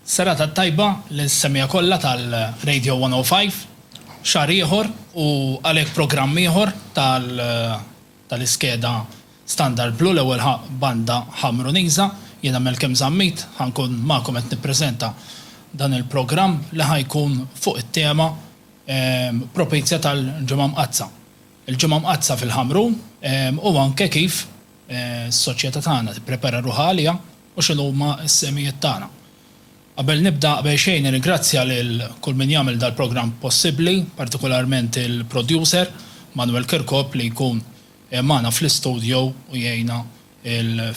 Serata t-tajba lil semija kollha tal Radio 105, xahar ieħor u għalhekk programm ieħor tal tal iskeda Standard Blu l-ewwel ħa banda Ħamruniża, jiena Malcolm Zammit ħa nkun magħkom qed nippreżenta dan il programm li ħa jkun fuq it tema propizja tal Ġimgħa Mqaddsa. Il Ġimgħa Mqaddsa fil Ħamrun u anke kif is soċjeta tagħna tipprepara ruħha għaliha. u x'inhuma s-sehmijiet tagħna. Qabel nibda, qabel xejn nirringrazzja lil kull min jagħmel dal-programm possibbli, partikularment il-producer, Manuel Kirkop li jkun magħna fl-istudio u jgħinna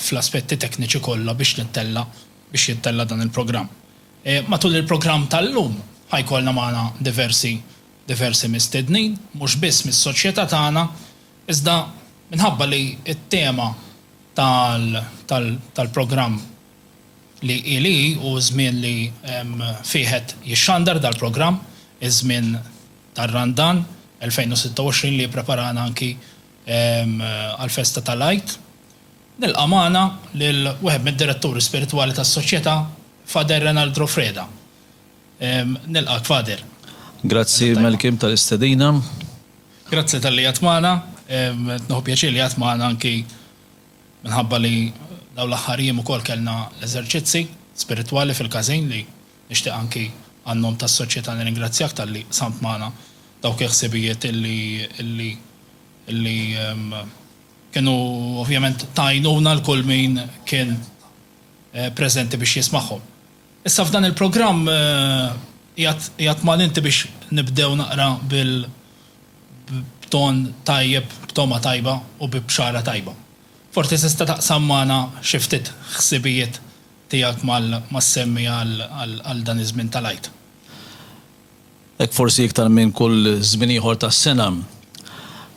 fl-aspetti tekniċi kollha biex nittella' biex jittella' dan il-programm. Matul il-programm tal-lum ħa jkollna magħna diversi diversi mistednin, mhux biss mis-soċjetà tagħna, Iżda minħabba li t-tema tal-programm li hi li hi u ż-żmien li fih qed jixxandar dal-programm, iż-żmien tar-Randan 2026 li jippreparana anki għall-festa tal-Għid, nilqa' magħna lil wieħed mid-Diretturi Spiritwali tas-Soċjetà, Fader Renald Rofreda. Nilqgħek, Father. Grazzi, Malcolm, tal-istedina. Grazzi talli għedt magħna. Nieħu pjaċir li għedt magħna anki minħabba li dawn l-aħħar jiem ukoll kellna l-eżerċizzi spiritwali fil-każin li nixtieq anki għan-nom tas-Soċjetà nirringrazzjak talli qsamt magħna dawk il-ħsibijiet li li kienu ovvjament ta' għajnuna lil kull min kien preżenti biex jismagħhom. Issa f'dan il-programm qiegħed qiegħed mal inti biex nibdew naqra bil b'ton tajjeb, b'togħma tajba u bi bxara tajba. Forsi tista' taqsam magħna xi ftit ħsibijiet tiegħek mal mas-semmi għal għal dan iż-żmien tal-Għid. Hekk forsi iktar minn kull żmien ieħor tas-sena,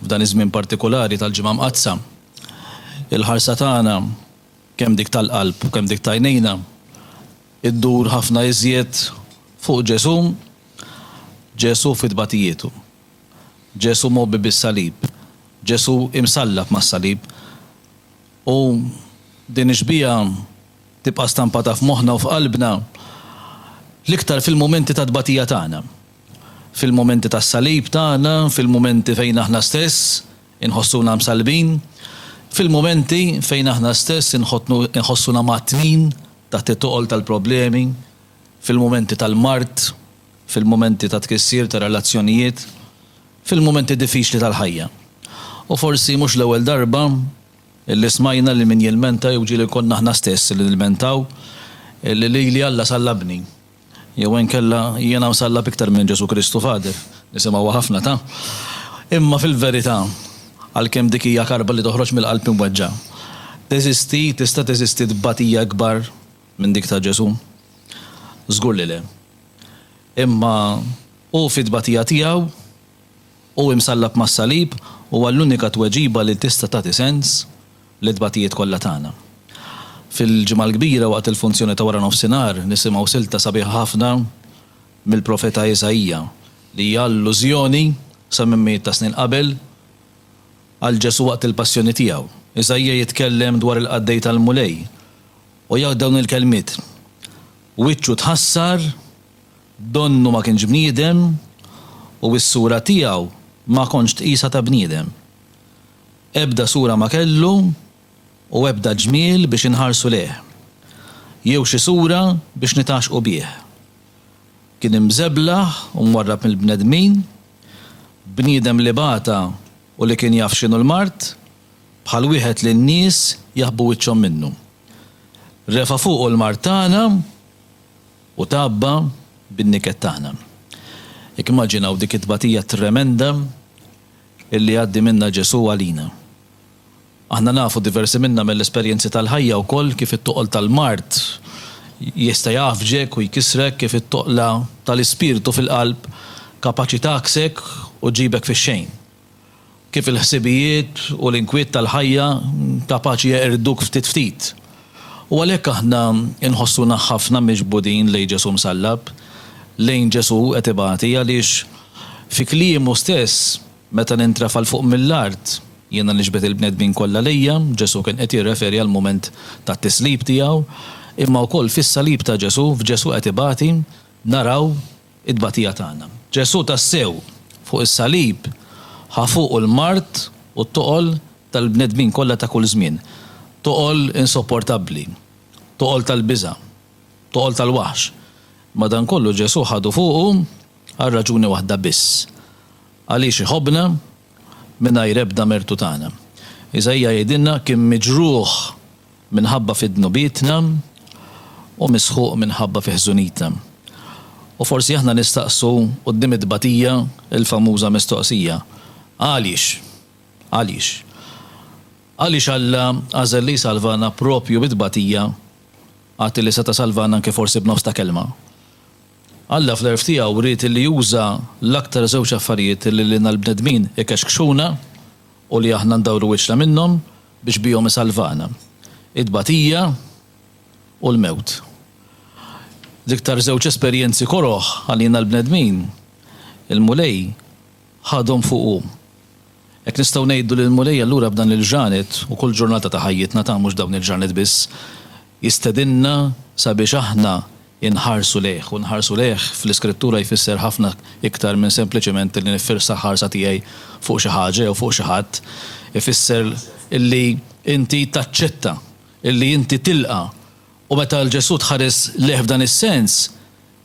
f'dan iż-żmien partikulari tal-Ġimgħa Mqaddsa, il-ħarsa tagħna kemm dik tal-qalb u kemm dik t'għajnejna, iddur ħafna iżjed fuq Ġesù, Ġesù fi tbatigħietu, Ġesù mgħobbi bis-salib, Ġesù imsallab mas-salib. U din ix-xbieha tibqa' stampata f'moħħna u f'qalbna l-iktar fil-mumenti ta' tbatija tagħna, fil-mumenti tas-salib tagħna, fil-mumenti fejn aħna stess Inħossuna msallbin fil-mumenti fejn aħna stess inħossuna mgħattnin taħt it-toqol tal-problemi, fil-mumenti tal-mard, fil-mumenti ta' tkissir ta' relazzjonijiet, fil-mumenti diffiċli tal-ħajja. U forsi mhux l-ewwel darba li smajna li min jilmenta jew ġieli konna aħna stess li nilmentaw li lili Alla sallabni. Jew inkella, Jiena msallab iktar minn Ġesù Kristu Fader. Nisimgħuha ħafna, ta? Imma fil-verità, għalkemm dik hija karba li toħroġ mill-qalb imweġġa', teżisti, tista' teżisti tbatija ikbar minn dik ta' Ġesù? Żgur li le. Imma Hu fit-tbatija tiegħu, Hu imsallab mas-salib, huwa l-unika tweġiba li tista' tagħti sens L-itbatijiet kollha tagħna. Fil-Ġimgħa l-Kbira waqt il-funzjoni ta' wara nofsinhar nisimgħu silta sabiħa ħafna mill-profeta Isaija li hija allużjoni sa minn mijiet ta' snin qabel għal Ġesù waqt il-passjoni tiegħu. Isaija jitkellem dwar il-qaddej tal-Mulej u jgħid dawn il-kelmiet, Wiċċu tħassar, donnu ma kienx bniedem u s-sura tiegħu ma kontx tqisha ta' bniedem. Ebda sura ma kellu u ebda ġmiel biex inħarsu lejh, jew xi sura biex nitgħaxxqu bih. Kien imżeblaħ u mwarrab mill-bnedmin, bniedem li bata u li kien jaf x'inhu l-mard, bħal wieħed li n-nies jaħbu wiċċhom minnu. Refa' fuqu l-mard tagħna u tgħabba bin-niket tagħna. Jekk immaġinaw dik it-tbatija tremenda illi jgħaddi minnha Ġesù għalina. Aħna nafu, diversi minna, mill-esperjenzi tal-ħajja wkoll kif it-toqol tal-mard jista' jgħaffġek u jkissrek, kif it-toqla tal-ispirtu fil-qalb kapaċi tagħaksek u ġġibek fix-xejn, kif il-ħsibijiet u l-inkwiet tal-ħajja kapaċi jeqirdduk ftit ftit. U għalhekk aħna nħossuna ħafna miġbudin lejn Ġesù msallab, lejn Ġesù qed ibati għaliex fi kliemu stess, Meta nintrafa' 'l fuq mill-art, jiena niġbed il-bnedmin kollha lejja, Ġesù kien qed jirreferi għall-mument tat-tislib tiegħu, imma wkoll fis-salib ta' Ġesù, f'Ġesù qed ibati, naraw it-tbatija tagħna. Ġesù tassew, fuq is-salib, ħa fuqu l-mard u t-toqol tal-bnedmin kollha ta' kull żmien. Toqol insopportabbli. Toqol tal-biża'. Toqol tal-waħx. Madankollu Ġesù ħadu fuqu għal raġuni waħda biss, għaliex iħobbna mingħajr ebda mertu tagħna. Iżaija jgħidilna, Kien miġrugħ Minħabba fi dnubietna u misħuq minħabba fi ħżunitna. U forsi aħna nistaqsu quddiem it-tbatija l-famuża mistoqsija, Għaliex? Għaliex? Għaliex Alla għażel li jsalvana proprju bi tbatija għad li seta' salvana anke forsi b'nofs ta' kelma? Alla fl-għerf tiegħu ried li juża l-aktar żewġ affarijiet li lilna l-bnedmin ikexkxuna u li aħna ndawru wiċċna minnhom biex bihom isalvana it-tbatija u l-mewt. L-iktar żewġ esperjenzi koroh għalina l-bnedmin, il-Mulej ħadhom fuqu. Hekk nistgħu ngħidu li l-Mulej allura b'dan il-ġranet u kull ġurnata ta' ħajjitna ta' mhux dawn il-ġranet biss, jistedinna sabiex aħna inħarsu lejh, u nħarsu lejh fl-Iskrittura jfisser ħafna iktar minn sempliċement illi niffirsa l-ħarsa tiegħi fuq xi ħaġa jew fuq xi ħadd, ifisser illi inti taċċetta, illi inti tilqa'. U meta l-Ġesù tħares lejh f'dan is-sens,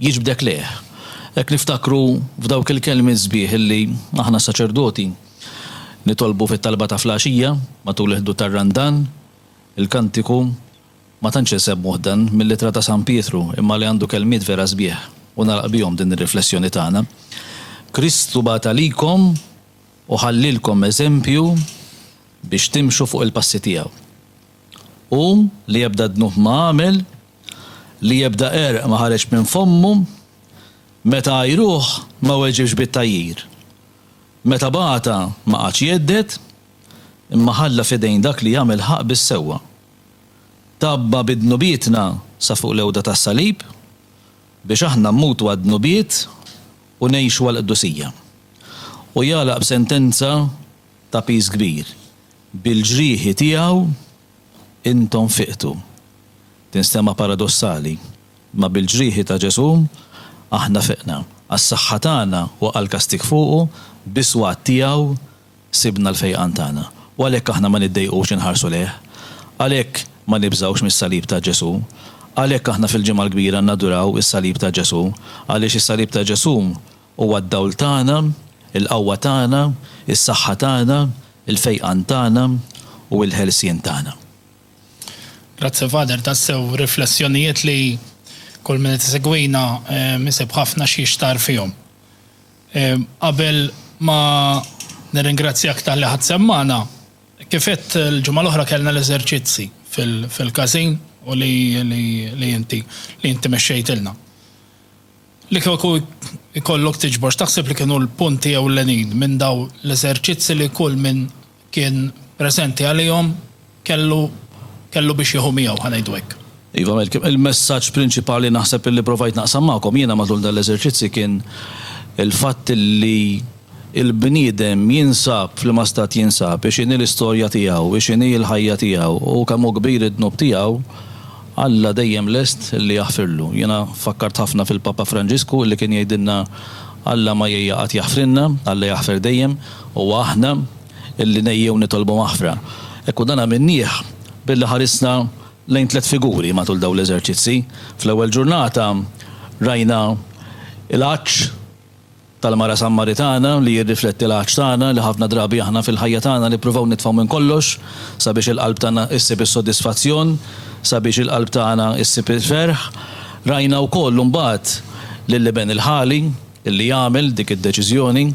jiġbdek lejh. Hekk niftakru f'dawk il-kelmiet sbieħ illi aħna s-saċerdoti nitolbu fit-talba ta' fl-għaxija, matul il-ħdud tar-Randan, il-kantiku, Ma tantx insemmuh dan mill-Ittra ta' San Pietru imma li għandu kelmiet vera sbieħ u nagħlaq bihom din ir-riflessjoni tagħna, Kristu bagħat għalikom u ħallielkom eżempju biex timxu fuq il-passi tiegħu. Hu li ebda dnub ma għamel, li ebda għerq ma ħareġ minn fommu, meta għajruh ma weġibx bit-tgħajjir. Meta bagħatha ma qagħadx jhedded, imma ħalla f'idejn dak li jagħmel ħaqq bis-sewwa. Tgħabba bi dnubietna sa fuq l-għewda tas-salib, biex aħna mmutu għad-dnubiet u ngħixu għall-qdusija. U jagħlaq b'sentenza ta' piż kbir, Bil-ġrieħi tiegħu intom fiqtu. Tinstema' paradossali, imma bil-ġrieħi ta' Ġesù aħna fiqna, għas-saħħa tagħna waqal kastig fuqu, bis-swat tiegħu Sibna l-fejqan tagħna, u għalhekk aħna ma niddejqux inħarsu lejh. Għalhekk ma nibżgħux mis-salib ta' Ġesù. Għalhekk aħna fil-Ġimgħa l-Kbira naduraw is-salib ta' Ġesù, għaliex is-salib ta' Ġesù huwa d-dawl tagħna, il-qawwa tagħna, is-saħħa tagħna, il-fejqan tagħna u il-ħelsien tagħna. Grazzi Father, tassew riflessjonijiet li kull min qed isegwina isib ħafna xi jixtarr fihom. Qabel ma nirringrazzjak talli ħadt sehem magħna, kif għedt l-ġimgħa l-oħra kellna l-eżerċizzi fil-każin u li inti li inti mexxejtilna. Li kieku jkollok tiġbor x'taħseb li kienu l-punti ewlenin minn dawn l-eżerċizzi li kull min kien preżenti għalihom kellu kellu biex jieħu miegħu, ħa ngħidu hekk. Iva Malcolm, il-messaġġ prinċipali naħseb illi provajt naqsam magħkom jiena matul dan l-eżerċizzji kien il-fatt illi l-bniedem jinsab f'liema stat jinsab, x'inhi l-istorja tiegħu, x'inhi l-ħajja tiegħu u kemm hu kbir id-dnub tiegħu, Alla dejjem lest li jaħfirlu. Jiena fakkart ħafna fil-Papa Franġisku illi kien jgħidilna Alla ma jgħejja qatt jaħfrilna, Alla jaħfer dejjem, huwa aħna illi ngħejjew nitolbu maħfra. Ekku dan għamilnieh billi ħarisna lejn tliet figuri matul dawn l-eżerċizzi. Fl-ewwel ġurnata rajna l-għatx. tal-mara Sammaritana li jirrifletti l-għatx tagħna li ħafna drabi aħna fil-ħajja tagħna nippruvaw nitfgħu minn kollox sabiex il-qalb tagħna issib is-sodisfazzjon, sabiex il-qalb tagħna ssib il-ferħ. Rajna wkoll imbagħad lill-Iben il-Ħali li jagħmel dik id-deċiżjoni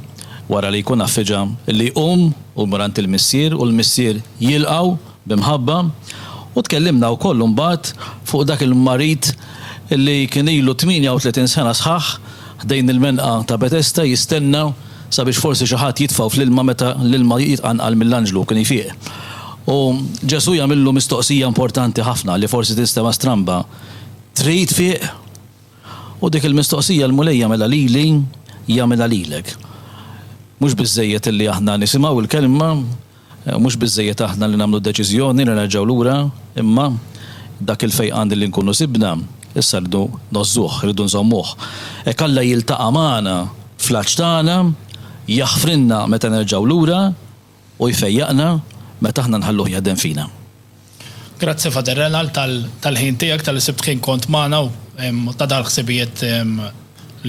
wara li jkun affiġa li jqum u jmur għand il-Missier u l-Missier jilqgħu. bi mħabba, u tkellimna wkoll imbagħad fuq dak il-marid li kien ilu 38 sena sħaħ ħdejn il-menqa ta' Betesda jistenna sabiex forsi xi ħadd jitfgħu fl-ilma meta l-ilma jitqanqal mill-anġlu kien jfiq. U Ġesù jagħmillu mistoqsija importanti ħafna li forsi tinstema' stramba, Trid tfiq? U dik il-mistoqsija l-Mulej jagħmilha lili, jagħmilha lilek. Mhux biżżejjed li aħna nisimgħu l-kelma, Mhux biżżejjed aħna li nagħmlu deċiżjoni li nerġgħu lura, imma dak il-fejqan li nkunu sibna, issa rridu ngħożżuh, irridu nżommuh. Hekk Alla jiltaqa' magħna fl-għatx tagħna, jaħfrilna meta nerġgħu lura u jfejjaqna meta aħna nħalluh jaħdem fina. Grazzi Father Renald tal-ħin tiegħek, talli sibt ħin kont magħna u ta' dawn il-ħsibijiet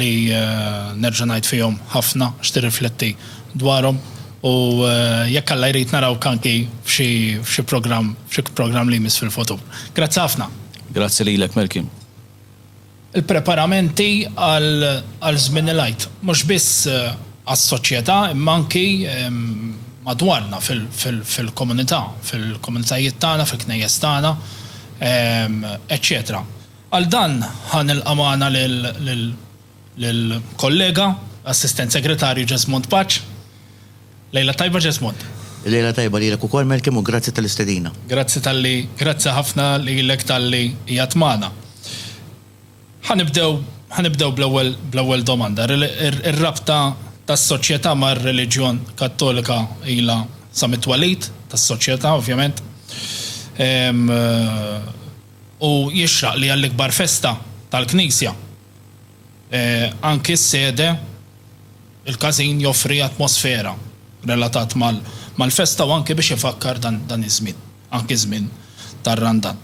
li nerġa' ngħid fihom ħafna x'tirrifletti dwarhom u jekk Alla jrid narawk anki f'xi programm li jmiss fil-futur. Grazzi ħafna. Grazzi lilek Melky. Il-preparamenti għal żmien il-Għid, mhux biss għas-soċjetà imma anki madwarna fil-komunità, fil-komunitajiet tagħna, fil-knejjes tagħna, eċċetera. Għal dan ħa nilqa' magħna lill-kollega, Assistent Segretarju Jesmond Paċ. Lejla tajba Jesmond. Lejla tajba lilek ukoll Melkim u grazzi tal-istedina. Grazzi talli grazzi ħafna lilek talli qiegħed magħna. Ħa nibdew ħa nibdew bl-ewwel bl-ewwel domanda. Ir-rabta tas-soċjetà mar-reliġjon Kattolika ilha sa mit-twelid tas-soċjetà ovvjament. U jixraq li għall-ikbar festa tal-Knisja. Anki s-sede, il-każin joffri atmosfera relatat mal-festa u anki biex ifakkar dan iż-żmien, anki ż-żmien tar-Randan.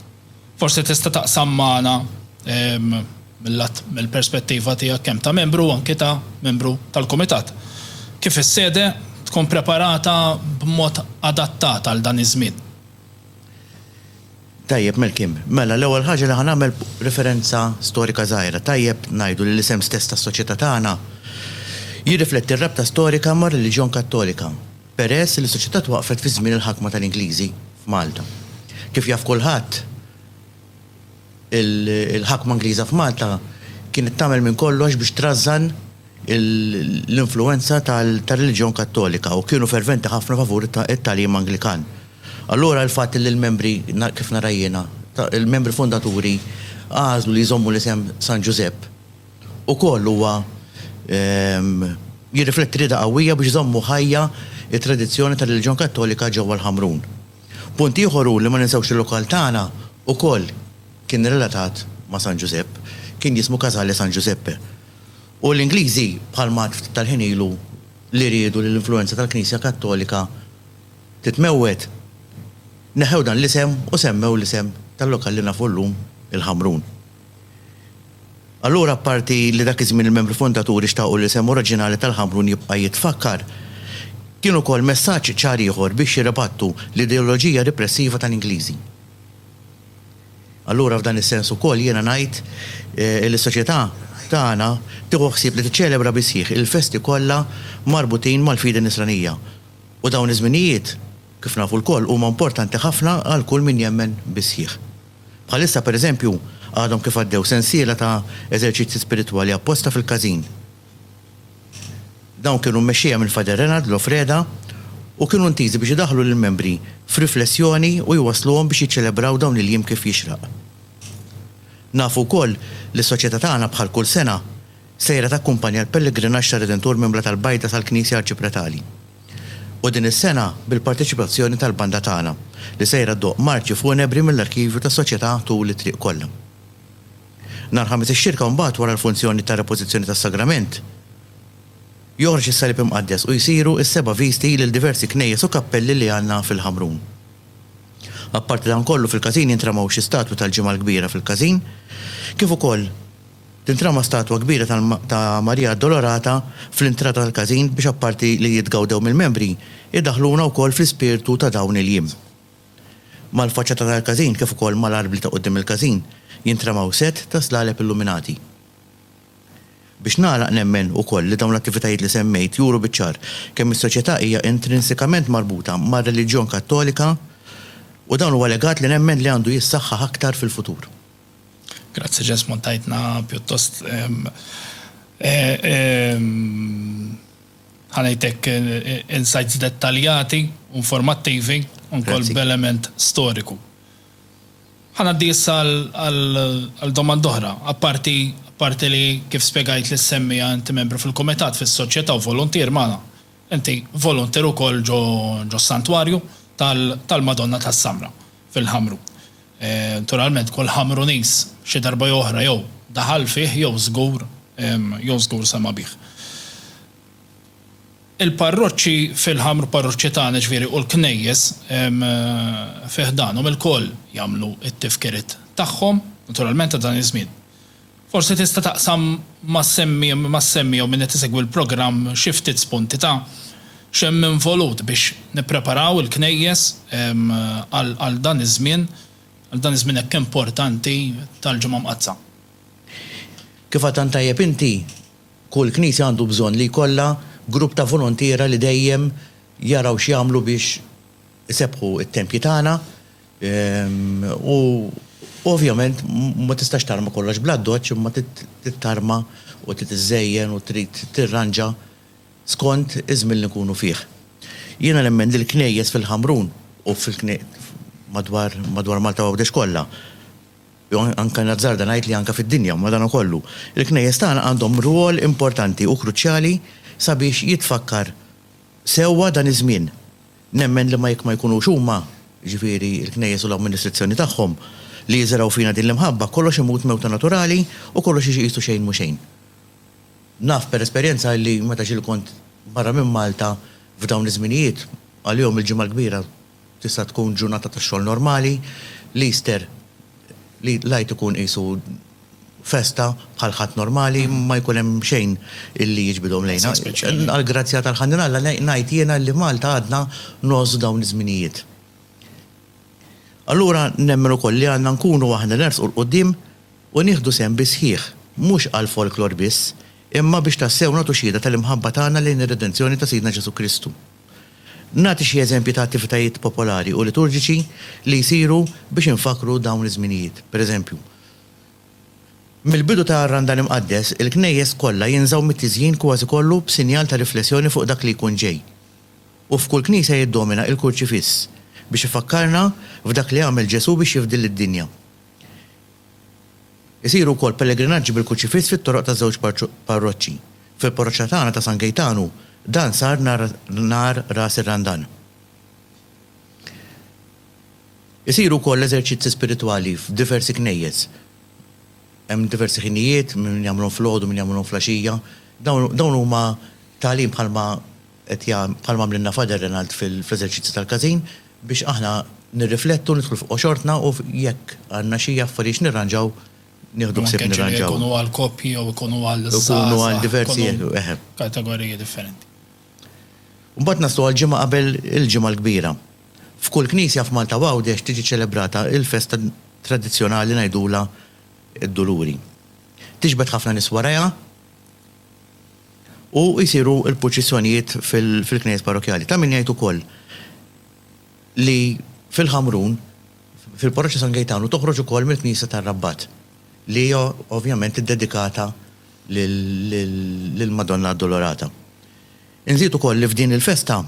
Forsi tista' taqsam magħna mill-lat, mill-perspettiva tiegħek kemm ta' membru u anki ta' membru tal-kumitat, kif is-sede tkun preparata b'mod adattat għal dan iż-żmien? Tajjeb, Malcolm. Mela, l-ewwel ħaġa li ħa nagħmel referenza storika żgħira. Tajjeb ngħidu li l-isem stess tas-soċjetà tagħna jirrifletti r-rabta storika mar-reliġjon Kattolika, peress li s-soċjetà twaqqfet fi żmien il-ħakma tal-Ingliżi f'Malta. Kif jaf kulħadd, il-ħakma Ingliża f'Malta kienet tagħmel minn kollox biex trażżan, l-influwenza tar-reliġjon Kattolika u kienu ferventi ħafna favur it-tagħlim Anglikan. Allura l-fatt li l-membri, kif nara jiena, il-membri fundaturi għażlu li jżommu l-isem San Ġużepp ukoll huwa jirrifletti rieda qawwija biex iżommu ħajja t-tradizzjoni tar-reliġjon Kattolika ġewwa l-Ħamrun. Punt ieħor hu li ma ninsewx li l-lokal tagħna ukoll kien relatat ma' San Ġużepp, kien jismu Casale San Giuseppe. U l-Ingliżi, bħal m'għad ftit tal-ħin ilu, li riedu li l-influwenza tal-Knisja Kattolika titmewwed, neħħew dan l-isem u semmew l-isem tal-lokal li nafu llum, il-Ħamrun. Allura apparti li dak iż-żmien il-membri fundaturi xtaqu li l-isem oriġinali tal-Ħamrun jibqa' jitfakkar, kien ukoll messaġġ ċar ieħor biex jirribattu l-ideoloġija ripressiva tal-Ingliżi. Allura f'dan is-sens ukoll jiena ngħid li s-soċjetà tagħna tieħu ħsieb li tiċċelebra bis-sħiħ il-festi kollha marbutin mal-fidi nisranija. U dawn iż-żminijiet, kif nafu lkoll, huma importanti ħafna għal kull min jemmen bis-sħiħ. Bħalissa, pereżempju, għadhom kif għaddew sensiela ta' eżerċizzji spiritwali apposta fil-każin. Dawn kienu mmexxija minn Father Renald Lofreda u kienu intiżi biex idaħħlu lill-membri f'riflessjoni u jwassluhom biex jiċċelebraw dawn il-jiem kif jixraq. Nafu wkoll li s-Soċjetà tagħna bħal kull sena sejra takkumpanja l-pellegrinaġġ tar-Redentur minn Blat al-Bajda sal-Knisja Arċipretali u din is-sena bil-parteċipazzjoni tal-banda tagħna li sejra ddoqq marċi funebri mill-arkivju tas-Soċjetà tul it-triq kollha. Nhar Ħamis ix-Xirka mbagħad wara l-funzjoni ta' repożizzjoni tas-Sagrament, joħroġ is-Salib Imqaddes u jsiru s-seba' visti lil diversi knejjes u kappelli li għandna fil-Ħamrun. Apparti dan kollu fil-każin jintramaw xi statwi tal-Ġimgħa l-Kbira fil-każin, kif ukoll tintrama statwa kbira ta' Marija Addolorata fl-intrata tal-każin biex apparti li jitgawdew mill-membri, idaħħluna wkoll fl-ispirtu ta' dawn il-jiem. Mal-faċċata tal-każin kif ukoll mal-arbli ta' quddiem il-każin jintramaw sett ta' slaleb illuminati. Biex nagħlaq nemmen ukoll li dawn l-attivitajiet li semmejt juru biċ-ċar kemm is-soċjetà hija intrinsikament marbuta mar-reliġjon Kattolika u dan huwa legat li nemmen li għandu jissaħħaħ aktar fil-futur. Grazzi Jesmond tajtna pjuttost Ħa ngħidlek insights dettaljati u informattivi u wkoll b'element storiku. Ħa ngħaddi issa għal domanda oħra. Apparti apparti li kif spjegajt lis-semmiegħa inti membru fil-Kumitat fis-Soċjetà u voluntier magħna, inti voluntier ukoll ġo s-Santwarju tal-Madonna tas-Samra. fil-ħamru. Nturalment kull ħamru nies xi darba jew oħra jew daħal fih jew żgur jew żgur sema' bih. Il-parroċċi fil-ħamru parroċċi tagħna jiġifieri u l-knejjes fi ħdanhom ilkoll jagħmlu t-tifkiriet tagħhom, nturalment ta' dan iż-żmien. Forsi tista' taqsam mas-semmi jew min qed isegwi l-programm xi ftit spunti ta' x'hemm involut biex nippreparaw il-Knejjes għal dan iż-żmien, għal dan iż-żmien hekk importanti tal-Ġimgħa Mqaddsa. Kif għad tant tajjeb inti, kull Knisja għandu bżonn li jkollha grupp ta' volontiera li dejjem jaraw x'jagħmlu biex isebbħu t-tempji tagħna. U ovvjament ma tistax tarma kollox bl-addoċċ imma trid tarma u trid iżżejjen u trid tirranġa skont iż-żmien li nkunu fih. Jiena nemmen li l-knejjes fil-Ħamrun u madwar madwar Malta u Għawdex kollha, jew anke nazzarda ngħid li anke fid-dinja madankollu, il-knejjes tagħna għandhom rwol importanti u kruċjali sabiex jitfakkar sewwa dan iż-żmien. Nemmen li ma jekk ma jkunux huma, jiġifieri l-Knejjes u l-amministrizzjoni tagħhom, li jiżergħu fina din l-imħabba, kollox imut mewta naturali u kollox jiġi qisu xejn mhu xejn. Naf per esperjenza illi meta ġieli kont barra minn Malta f'dawn iż-żminijiet, għalihom il-Ġimgħa l-Kbira tista' tkun ġurnata ta' xogħol normali, l-Easter, l-Għid ikun qisu, festa bħal ħadd normali ma jkun hemm xejn illi jiġbidhom lejna. Għall-grazzja tal-Ħanin Alla ngħid jiena illi Malta għadna ngħożżu dawn iż-żminijiet. Allura nemmen ukoll li għandna nkunu aħna nersqu 'l quddiem u nieħdu sehem bis-sħiħ, mhux għal folklor biss, imma biex tassew nagħtu xhieda tal-imħabba tagħna lejn ir-redenzjoni ta' Sidna Ġesù Kristu. Nagħti xi eżempji ta' attivitajiet popolari u liturġiċi li jsiru biex infakkru dawn iż-żminijiet. Pereżempju. Mill-bidu ta' r-Randan Imqaddes, il-knejjes kollha jinżgħu mit-tiżjin kważi kollu b'sinjal ta' riflessjoni fuq dak li jkun ġej. U f'kull knisja jiddomina il-Kurċifiss, biex ifakkarna f'dak li għamel Ġesù biex jifdil lid-dinja. Isiru wkoll pellegrinaġġi bil-Kurċifiss fit-toroq taż-żewġ parroċċi. Fil-parroċċa tagħna ta' San Gejtanu, dan sar nhar Ras ir-Randan. Isiru wkoll eżerċizzi spiritwali f'diversi knejjes. Hemm diversi ħinijiet, min jagħmilhom filgħodu, min jagħmilhom flaxija. Dawn, dawn huma tagħlim bħalma qed ja, bħalma għamlilna Father Renald fl-eżerċizzi tal-każin, biex aħna nirriflettu, nidħlu f'qoxortna u jekk għandna xi affarijiet x'nirranġaw, nieħdu ħsieb nirranġawhom. Jew anke ġieli jkunu għall-koppji jew ikunu għall-żgħażagħ. Ikunu għal diversi, eħe. Kategoriji differenti. Mbagħad naslu għall-ġimgħa qabel il-Ġimgħa l-Kbira. F'kull knisja f'Malta u Għawdex tiġi ċċelebrata l-festa tradizzjonali ngħidulha d-Duluri. Tiġbed ħafna nies warajha u jsiru l-purċissjonijiet fil-knejjes parrokkjali. Ta' min jgħid ukoll li fil-Ħamrun, fil-Parroċċa San Gejtanu toħroġ ukoll mill-knisja tar-Rabbat li hija ovvjament iddedikata lill-Madonna Addolorata. Inżid ukoll li f'din il-festa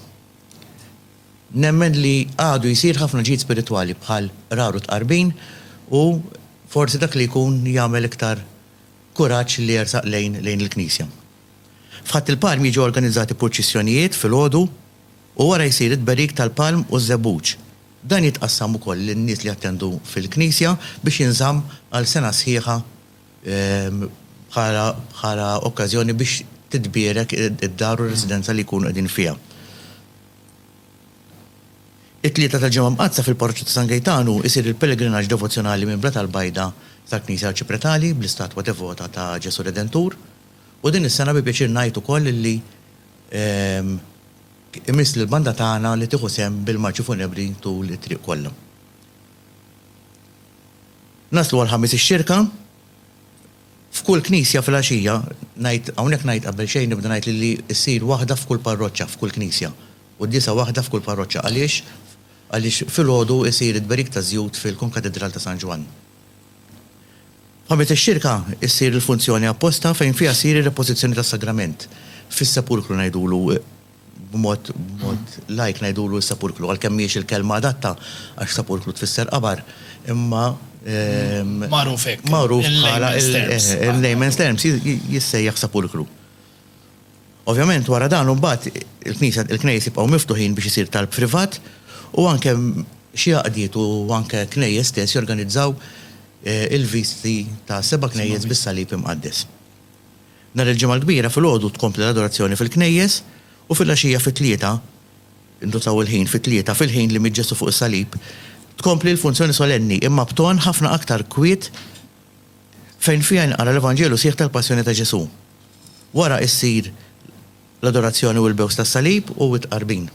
Nemmen li għadu jsir ħafna ġid spiritwali bħal qrar u tqarbin u forsi dak li jkun jagħmel iktar kuraġġ li jersaq lejn lejn il-knisja. F'Ħadd il-Palm jiġu organizzati purċissjonijiet filgħodu u wara jsir it-tberik tal-palm u ż-żebbuġ. Dan jitqassam ukoll lin-nies li jattendu fil-knisja biex jinżamm għal sena sħiħa bħala okkażjoni biex titbierek id-dar u r-residenza li jkunu qegħdin fiha. It-Tlieta tal-Ġimgħa Mqaddsa fil-Parroċċa ta' San Gejtanu isir il-pelegrinaġġ devozzjonali minn Blat għall-Bajda tal-Knisja Arċipretali bl-istatwa devota ta' Ġesù Redentur u din is-sena bi pjaċir ngħid ukoll li imiss lill-banda tagħna li tieħu sehem bil-marċi funebri tul it-triq kollha. Naslu għall-Ħamis ix-Xirka. F'kull knisja filgħaxija, ngħid, hawnhekk ngħid qabel xejn nibda ngħid li li ssir waħda f'kull parroċċa, f'kull knisja. Quddiesa waħda f'kull parroċċa. Għaliex? Għaliex filgħodu isir it-tberik taż-żjut fil-Konkatidral ta' San Ġwann. F'Ħamis ix-Xirka ssir il-funzjoni apposta fejn fiha ssir ir-repożizzjoni tas-Sagrament, fis-Sepulkru ngħidulu, b'mod lajk ngħidulu s-sepulkru, għalkemm mhijiex il-kelma adatta għax sepulkru tfisser qabar, imma. Magħruf hekk. Magħruf bħala il-layman's terms jissejjaħ sepulkru. Ovvjament wara dan imbagħad il-knejjes jibqgħu miftuħin biex isir talb privat u anke xi għaqdiet u anke knejjes stess jorganizzaw il-visti ta' seba' knejjes bis-salib imqaddes. Nhar il-Ġimgħa l-Kbira filgħodu tkompli l-adorazzjoni fil-knejjes u filgħaxija fit-tlieta, indutaw il-ħin, fit-tlieta, fil-ħin li miet Ġesù fuq is-salib, tkompli l-funzjoni solenni, imma b'ton ħafna aktar kwiet fejn fiha jinqara l-Evanġelju sħiħ tal-Passjoni ta' Ġesù. Wara issir l-adorazzjoni u l-bews tas-salib u t-tqarbin.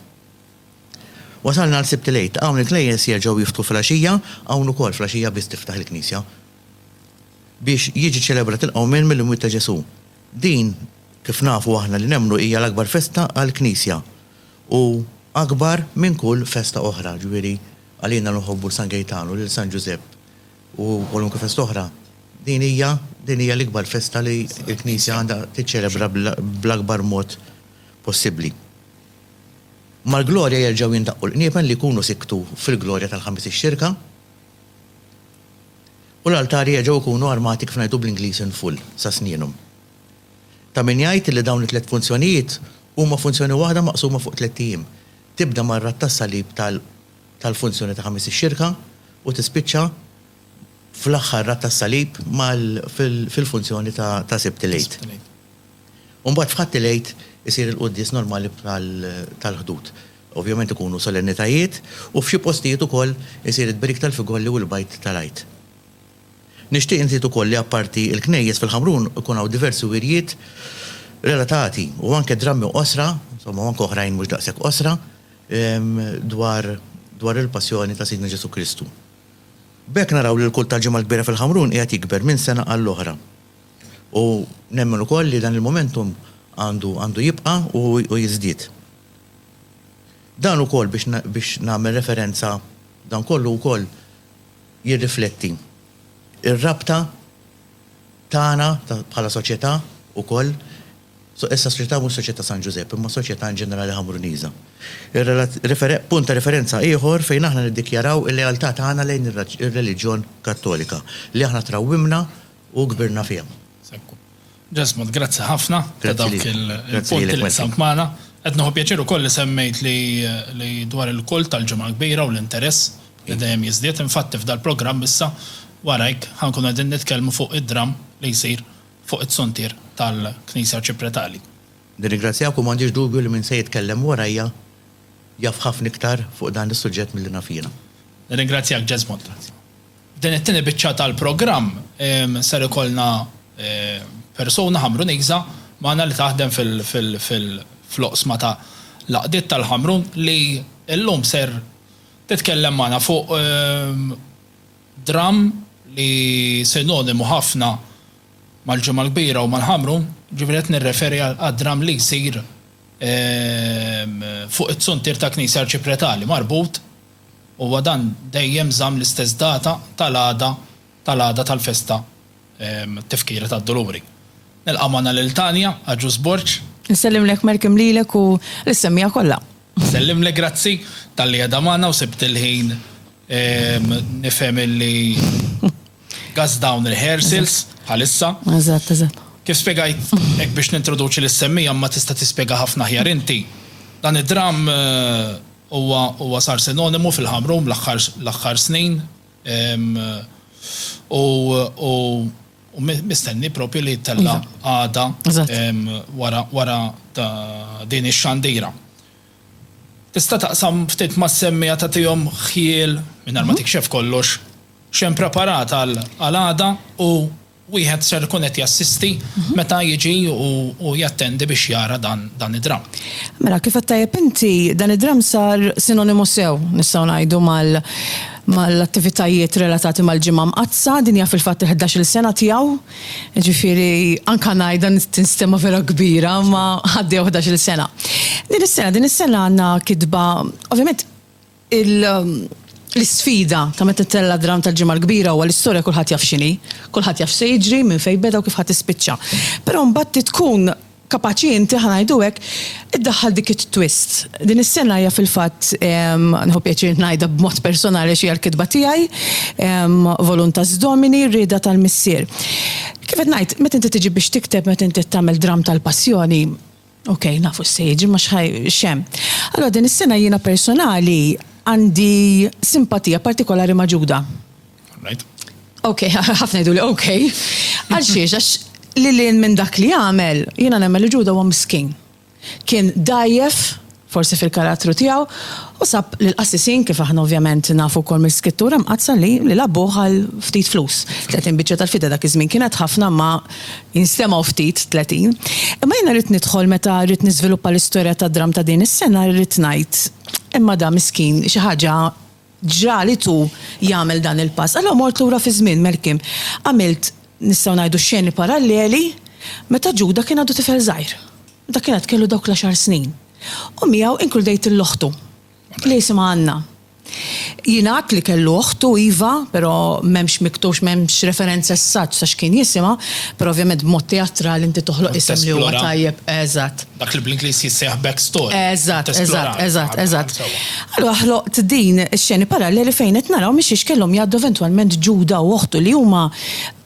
Wasalna għal Sibt il-Għid. Hawn il-knejjes jerġgħu jiftħu filgħaxija, hawn ukoll filgħaxija biss tiftaħ il-knisja. biex jiġi ċċelebrat il-qawmien mill-imwiet ta' Ġesù. Din, kif nafu aħna li nemmnu hija l-akbar festa għall-Knisja u akbar minn kull festa oħra, ġifieri għalina li nħobbu San Gejtanu, lil San Ġużepp u kwalunkwe festa oħra, din hija din hija l-ikbar festa li l-Knisja għandha tiċċelebra bl-akbar mod possibbli. Mal-glorja jerġgħu jindaqqu l-qniepen li jkunu sikktu fil-glorja tal-Ħamis ix-Xirka. u l-altari jerġgħu jkunu armati kif ngħidu bl-Ingliż in full, sa snjienhom. Ta' min jgħid li dawn it-tliet funzjonijiet huma funzjoni waħda maqsuma fuq tlett ijiem, tibda mar-Radd tas-Salib tal tal-funzjoni ta' Ħamis ix-Xirka u tispiċċa fl-aħħar Radd tas-Salib mal fil fil-funzjoni ta' ta' Sibt il-Għid. U mbagħad f'Ħadd il-Għid isir il-quddies normali tal tal-Ħdud. Ovvjament ikunu solennitajiet u f'xi postijiet ukoll isir it-tberik tal-figolli u l-bajd tal-Għid. Nixtieq inżid ukoll li apparti l-knejjes fil-Ħamrun ikun hawn diversi wirjiet relatati u anke drammi qosra, insomma u anke oħrajn mhux daqshekk qosra, dwar dwar il-Passjoni ta' Sidna Ġesù Kristu. B'hekk naraw li l-kult tal-Ġimgħa l-Kbira fil-Ħamrun qiegħed jikber minn sena għall-oħra. U nemmen ukoll li dan il-momentum għandu għandu jibqa' u jiżdied. Dan ukoll biex biex nagħmel referenza dan kollu wkoll jirrifletti r-rabta tagħna ta' bħala soċjetà wkoll so issa s-soċjetà mhux soċjetà San Ġużepp imma soċjetà in ġenerali Ħamruniża. Ir-relat referenz punt ta' referenza ieħor fejn aħna niddikjaraw il-lealtà tagħna lejn ir-reliġjon Kattolika li aħna trawwimna U kbirna fihom. Sekku. Ġesmond, grazzi ħafna ta' dawk il-punti li qsamt magħna. Qed nieħu pjaċir ukoll li semmejt li dwar il-kult tal-Ġimgħa l-Kbira u l-interess li dejjem jiżdied. Infatti f'dal-programm issa, warajk, ħa nkunu qegħdin nitkellmu fuq id-dramm li jsir fuq it-suntier tal-Knisja Arċipretali. Nirringrazzjak u m'għandix dubju li min se jitkellem warajja jaf ħafna iktar fuq dan is-suġġett milli naf jiena. Nirringrazzjak, Ġesmond. F'din it-tieni biċċa tal-programm ser ikollna persuna Ħamruniża magħna li taħdem fil-oqsma ta' l-għaqdiet tal-Ħamrun li llum ser titkellem magħna fuq dramm li sinonimu ħafna mal-Ġimgħa l-Kbira u mal-Ħamrun, ġifieri qed nirreferi għad-dramm li jsir fuq it-suntier tal-Knisja Arċipretali marbut Huwa dan dejjem żamm l-istess data tal-għada tal-għada tal-festa Tifkira tad-Duluri. Nilqa' magħna lil Tania, Agius Borg. Insellimlek Malcolm lilek u l-ssemmiegħa kollha. Nsellimlek grazzi talli qiegħda magħna u sibt il-ħin nifhem illi gas dawn il-rehearsals bħalissa. Eżatt, eżatt. Kif spjegajt hekk biex nintroduċi lis-semmiegħa imma tista' tispjega ħafna aħjar inti, dan id-dramm Huwa huwa sar sinonimu fil-ħamrun bl-aħħar l-aħħar snin u u u mistenni propju li jittella' għada wara wara din ix-xandira. Tista' taqsam ftit mas-semmiegħa tagħtihom ħjiel, mingħajr ma tikxef kollox, x'hemm preparat għal għada u wieħed ser ikun qed jassisti meta jiġi u jattendi biex jara dan id-dramm. Mela, kif għedt tajjeb inti, dan id-dramm sar sinonimu sew, nistgħu ngħidu, mal-attivitajiet relatati mal-Ġimgħa Mqaddsa, din hija fil-fatt il-ħdax-il sena tiegħu, jiġifieri anke ngħidha tinstema' vera kbira, imma għaddejja ħdax-il sena. Din is-sena, din is-sena għandna kitba, ovvjament, L-isfida ta' meta tittella' d-dramm tal-Ġimgħa l-Kbira huwa l-istorja kulħadd jaf x'inhi, kulħadd jaf x'se jiġri, minn fejn beda u kif ħa tispiċċa. Però mbagħad trid tkun kapaċi inti, ħa ngħidu hekk, iddaħħal dik it-twist. Din is-sena hija fil-fatt, nieħu pjaċir ngħidha b'mod personali għax hija l-kitba tiegħi, Voluntas Domini, r-rieda tal-Missier. Kif qed ngħid, meta inti tiġi biex tikteb, meta inti qed tagħmel dramm tal-Passjoni, Okej, nafu x'se jiġi ma x'hemm. Allura din is-sena jiena personali għandi simpatija partikolari ma' Ġuda. Alright. Okej, ħafna jgħiduli okej. Għal xiex? Għax lil hinn minn dak li għamel, jiena nemmen li Ġuda huwa miskin. Kien dgħajjef. forsi fil-karattru tiegħu, u sab lill-qassisin, kif aħna ovvjament nafu wkoll mill-Skrittura Mqaddsa li li labbuh għal ftit flus. Tletin biċċa tal-fida dak iż-żmien kienet ħafna imma jinstemgħu ftit tletin. Imma jiena rrid nidħol meta rrid niżviluppa l-istorja tad-dramm ta' din is-sena rrid ngħid, imma da miskin xi ħaġa ġra li tu jagħmel dan il-pass? Allura mort lura fiż-żmien, Melkim. Għamilt, nistgħu ngħidu, xeni paralleli meta Ġuda kien għadu tifel żgħir. Meta kien għad kellu dawk l-għaxar snin. U miegħu inkludejt lil oħtu, li jisimha Anna. Jingħad li kellu oħtu, iva, però m'hemmx miktux, m'hemmx referenza as-such sa x'kien jisimha, però ovvjament b'mod teatrali inti toħloq isem li huwa tajjeb. Eżatt. Dak li bl-Ingliż jissejjaħ back story. Eżatt, eżatt, eżatt, eżatt. Allura ħloqt din ix-xeni paralleli fejn qed naraw minn xiex kellhom jgħaddu eventwalment Ġuda u oħtu li huma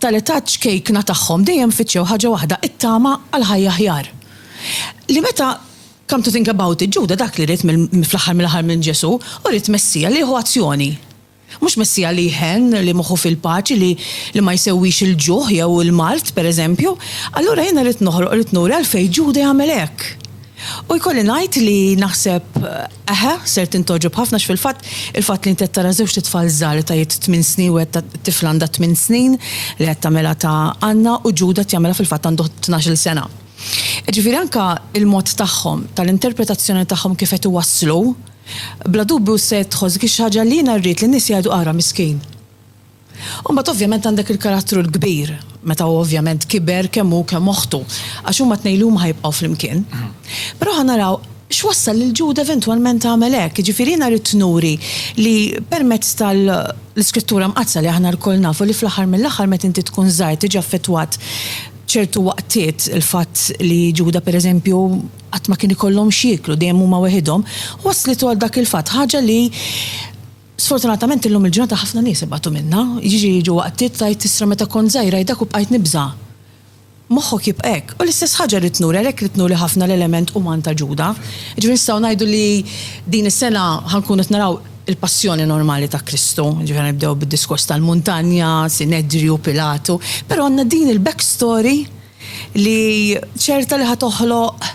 tal-età ċkejkna tagħhom dejjem fittxew ħaġa waħda, it-tama għal ħajja aħjar. Li meta come to think about it, Ġuda dak li ried fl-aħħar mill-aħħar minn Ġesù, hu ried Messija li jieħu azzjoni. Mhux Messija li jħenn, li moħħu fil-paċi, li li ma jsewwix il-ġuħ jew il-mard, per eżempju. Allura jiena rrid noħroq, rrid nuri għalfejn Ġuda jagħmel hekk. U jkolli ngħid li naħseb, eħe, ser tintgħoġob ħafna għax fil-fatt, il-fatt li inti qed tara żewġt itfal żgħar li ta' jedd tmien snin u qed tifla għandha tmien snin li qed tagħmilha ta' Anna u Ġuda qed jagħmilha fil-fatt għandu tnax-il sena. Jiġifieri anke l-mod tagħhom, tal-interpretazzjoni tagħhom kif qed iwasslu, Bla dubju se tħoss dik ix-xaġa li jiena rrid li n-nies jgħidu ara miskin. U mbagħad ovvjament għandek il-karattru l-kbir, meta hu ovvjament kiber kemm hu kemm oħtu, għax huma t-tnejn li huma ħa jibqgħu flimkien. Però ħa naraw x'wassal lil Ġuda eventwalment għamel hekk. Jiġifieri jiena ridt nuri li permezz tal-Iskrittura Mqaddsa li aħna lkoll nafu li fl-aħħar mill-aħħar meta inti tkun żgħir tiġi affettwat ċertu waqtiet, il-fatt li Ġuda pereżempju, qatt ma kien ikollhom x'jieklu, dejjem huma weħidhom, wasslitu għal dak il-fatt, ħaġa li sfortunatament illum il-ġurnata ħafna nies ibatu minnha, jiġri jiġu waqtiet tgħid t'isra meta kont żgħira hi dak u bqajt nibża'. Moħħok jibqa' hekk. U l-istess ħaġa rrid nuri, għalhekk rrid nuri ħafna l-element uman ta' Ġuda. Jiġifieri nistgħu ngħidu li din is-sena ħa nkunu qed naraw il-passjoni normali ta' Kristu, jiġifieri ħa nibdew bid-diskors tal-muntanja, Sinedriju, Pilatu, però għandna din il-back story, li ċerta li ħa toħloq